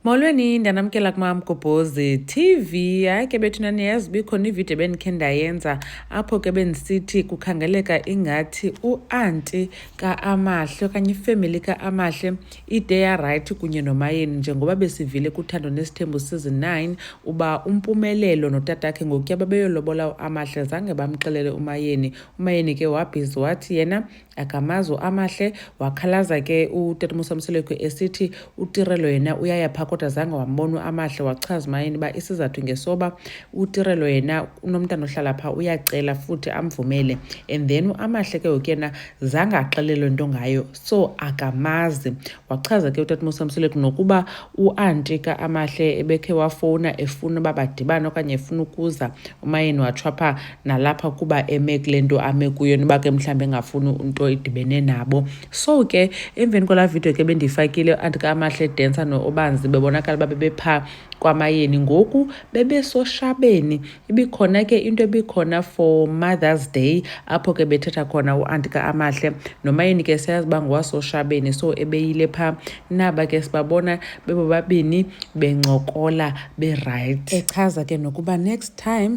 Molweni ndanamkela kumam Gobhozi TV. Hayi ke bethu naniyazi bikhona ividiyo bendikhe ndayenza apho ke bendisithi kukhangeleka ingathi uanti kaAmahle okanye ifemeli kaAmahle ide yarayithi kunye nomayeni njengoba besivile kuthando nesithembu season 9 uba umpumelelo notatakhe ngokuya babeyolobola uAmahle zange bamxelele umayeni. Umayeni ke wabhizi wathi yena akamazwi amahle wakhalaza ke utatimusa mseleku esithi utirelo yena uyaya phaa kodwa zange wambona amahle wachaza mayini uba isizathu ngesoba utirelo yena unomntana ohlala phaa uyacela futhi amvumele and then uamahle ke ngoku yena zange axelelwe nto ngayo so akamazi wachaza ke utatimusa mseleku nokuba uanti ka amahle ebekhe wafowuna efuna uba badibane okanye efuna ukuza umayeni watshwa phaa nalapha kuba eme kule nto ame kuyo noba ke mhlawumbi engafuni into idibene nabo so ke emveni kwalaa vidiyo ke bendiyifakile andikamahle densa noobanzi bebonakala uba bebephaa kwamayeni ngoku bebesoshabeni ibikhona ke into ebikhona for mothers day apho ke bethetha khona uanti kaamahle nomayeni ke siyazi uba ngowasoshabeni so ebeyile phaa naba ke sibabona bebobabini bencokola berayithi echaza ke nokuba next time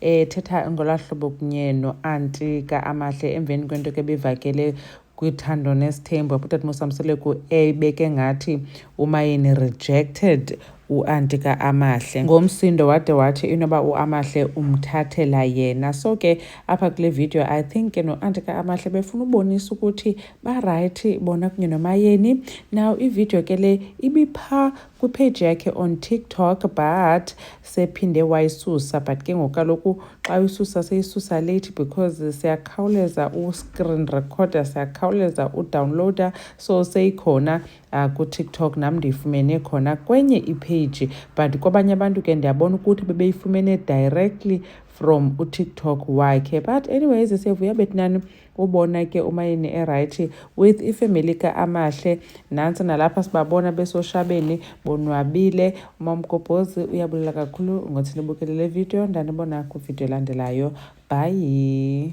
ethetha ngolaa hlobo kunye no-anti ka-amahle emveni kwento ke bivakele kwithando nesithembu apho utata mosamseleku ebeke ngathi umayeni rejected uanti ka-amahle ngomsindo wade wathi inoba uamahle umthathela yena so ke apha kule video i think ke noanti ka-amahle befuna ubonisa ukuthi barayithi bona kunye nomayeni now ividiyo ke le ibipha kwipheji yakhe on tiktok but sephinde wayisusa but ke ngoku kaloku xa uyisusa seyisusa late because siyakhawuleza u-screen recorder siyakhawuleza udownloader so seyikhona uh, kutiktok nam ndiyifumene khona kwenye ipage but kwabanye abantu ke ndiyabona ukuthi bebeyifumene directly from utiktok wakhe but anyways siyavuya betinani ubona ke umayeni erayithi with ifemeli ka-amahle nantsi nalapha sibabona besoshabeni bonwabile umamgobhozi uyabulela kakhulu ngothi nibukele le video ndanibona kwividiyo elandelayo bhayi